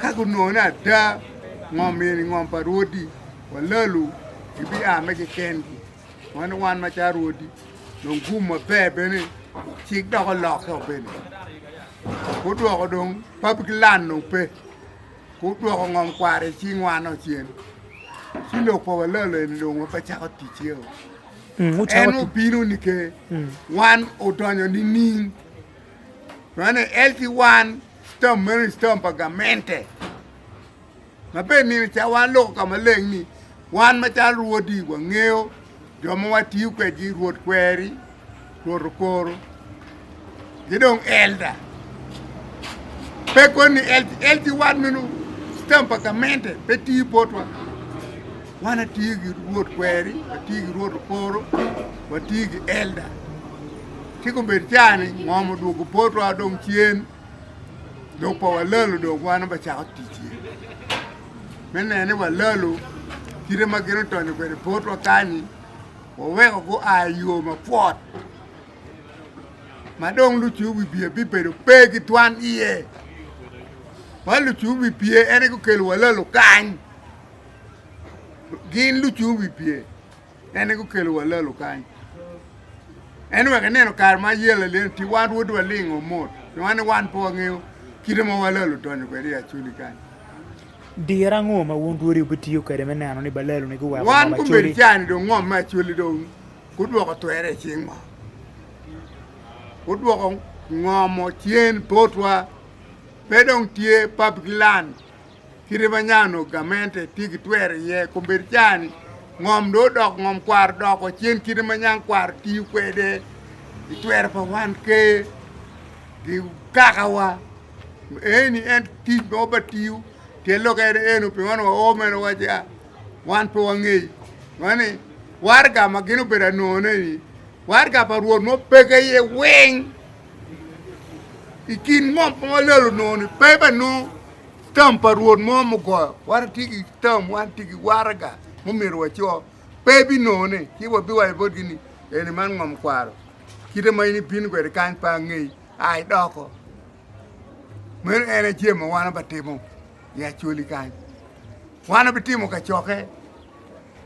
Ka gunongo ni ada ngom eni ngom pa rwodi wa lalu gibia me kikengi. Mano wan macalo rwodi dong gum maber bene cik dok olokke o bene. Gudwoko dong public land dong pe gudwoko ngom kwara i cing wan o cen ci lok pa wa lalu eni dong wa pe cako tic iye o. En obino nike wan odonyo nining? Nonei LT One Stamp meno ni stamp pa gamente ma bene nino ca wan loko ka maleng ni wan macalo rwodi wangeyo jo ma watiyo kwedgi rwod kweri rwod okoro ki dong elda pe koni LT One meno stamp pa gamente pe tiyo botwa Wan atye ki rwod kweri, watye ki rwod okoro, watye ki elda. Cik obed cani ngom odwogo potwa dong cen lok pa walalo dong wan bacako ticce. Me neno ni walalo kite ma gin otonyo kwede potwa kani waweko gua i yo mapwot ma dong lucu bibye bibedo pe ki twan iye. Wa lucu bibye en aye gukelo walalo kany. gin lucung wi pye en aye gukelo wa lalu kany en wek ineno kare ma yel alel ti wan rwod walingo mot wan ni wan pe wangeyo kite ma wa lalu donyo kwede i acoli kany Diro ango ma wun rwodi wubitiyo kwede me neno ni ba laluni guweko wan ngom kombedi acoli? cani dong ngom me acoli dong gudwoko twere i cingwa gudwoko ngomo cen potwa pe dong tye pabgilan Kite ma nya onongo gamente tye ki twero iye kombeddi caa-ni, ngom dong odoko ngom kwaro odoko cen kite ma nyang kwaro tiyo kwede i twero pa wan Ker ki Kakawa. Eni en tic ma ba tiyo pien lok en eno pien wan wao mere wawaco ni wan pe wangeyo. Meno ni waraga ma gin obedo anongo-neni, waraga pa Rwot ma opeke iye weng i kin ngom ma walelo onongo-ni pe banongo. Tam pa Rwot mo mugoyo, watye ki tam, watye ki waraga mumyero waco, pe ebinongone, ci wabiwaco botgi ni, Eni man ngom kwaro, kite ma in ibino kwede kany pe angeyi, a idoko. Meno en aye jami ma wan watimo i Acholi kany. Wan wabitimo kacokke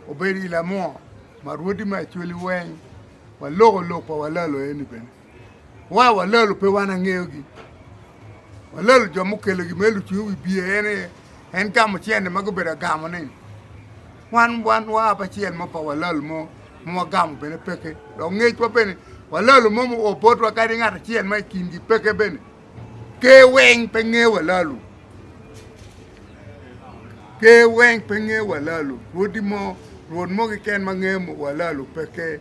obedo i Lamua ma rwodi me Acholi weng, waloko lok pa Walalo eni bene. Wa walalo pe wan angeyogi. Walalo jo mukelogi me lucung i wi biye en aye en gamo cente ma gubedo agamo ni wan wan wa apa acel mo pa walalo mo ma wagamo bene peke dok ngecwa bene walalo mo muo botwa kadi ngat acel ma i kingi peke bene ker weng pe nge walalo ker weng pe nge walalo rwodi mo rwod mo keken ma nge walalo peke.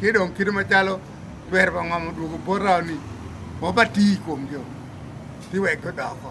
Ci dong kite macalo twer pa ngom odwogo bota ni wabati i kom jo ci wek gudoko.